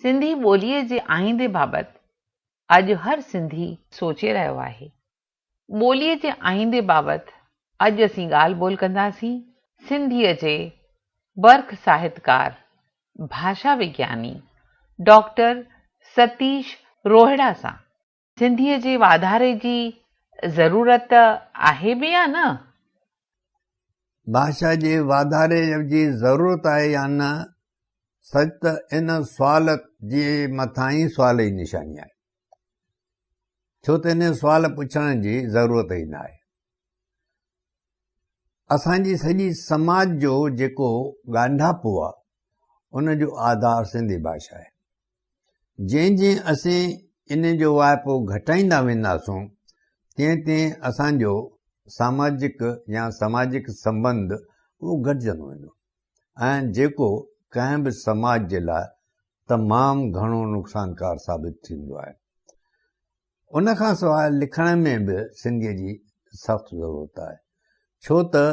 سنڌي ٻوليء جي آئيندي بابت اڄ هر سنڌي سوچي رهيو آهي. ٻوليء جي آئيندي بابت اڄ اسين ڳالهه ٻولهه ڪنداسين سنڌيء جي برک ساهتڪار، ڀاشا وگياني ڊاڪٽر ستيش روهڙا سان. سنڌيء جي واڌاري جي ضرورت آهي به يا نه؟ ڀاشا جي واڌاري جي ضرورت آهي يا نه، سچ ته ان سوال جي مٿانهين سوال ئي نشاني آهي، ڇو ته انهيء سوال پڇڻ جي ضرورت ئي نه آهي. اسان جي سڄي سماج جو جيڪو ڳانڍاپو آهي، ان جو آڌار سنڌي ڀاشا آهي. جئين جئين اسين ان جو واهپو گهٽائيندا وينداسون تئين تئين اسان جو ساماجڪ يا سماجڪ سنبنڌ اهو گهٽجندو ويندو ۽ جيڪو ڪنهن به سماج جي لاء تمام گهڻو نقصانڪار ثابت ٿيندو آهي ان کان سواء لکڻ ۾ به سنڌيء جي سخت ضرورت آهي ڇو ته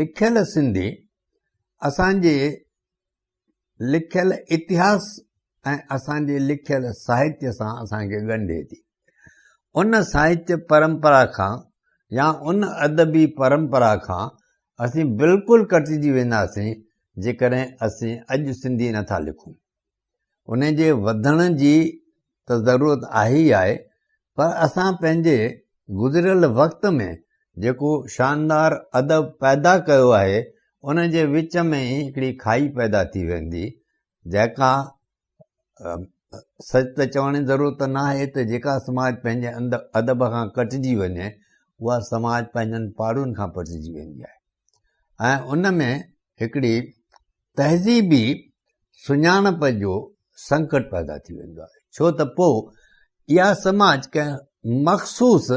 لکيل سنڌي اسان جي لکيل اتهاس ۽ اسان جي لکيل ساهتيه سان اسان کي ڳنڍي ٿي ان ساهتيه پرمپرا کان يا ان ادبي پرمپرا کان اسين بلڪل ڪٽجي وينداسين جيڪڏهن اسين اڄ سنڌي نٿا لکون ان جي وڌڻ جي ته ضرورت آهي ئي آهي پر اسان پنهنجي گذريل وقت ۾ جيڪو شاندار ادب پيدا ڪيو آهي ان جي وچ ۾ ئي هڪڙي کائي پيدا ٿي ويندي جيڪا سچ ته چوڻ جي ضرورت ناهي ته جيڪا سماج پنهنجي اندر ادب کان ڪٽجي وڃي اها سماج پنهنجن پاڙون کان پٽجي ويندي آهي ۽ ان ۾ هڪڙي تهذيبي سڃاڻپ جو سنڪٽ پيدا ٿي ويندو آهي ڇو ته پوء اها سماج ڪنهن مخصوص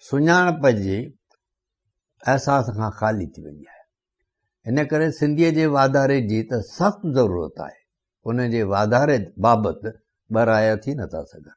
سڃاڻپ جي احساس کان خالي ٿي ويندي آهي ان ڪري سنڌيء جي واڌاري جي ته سخت ضرورت آهي ان جي واڌاري بابت ٻه رايا ٿي نٿا سگهن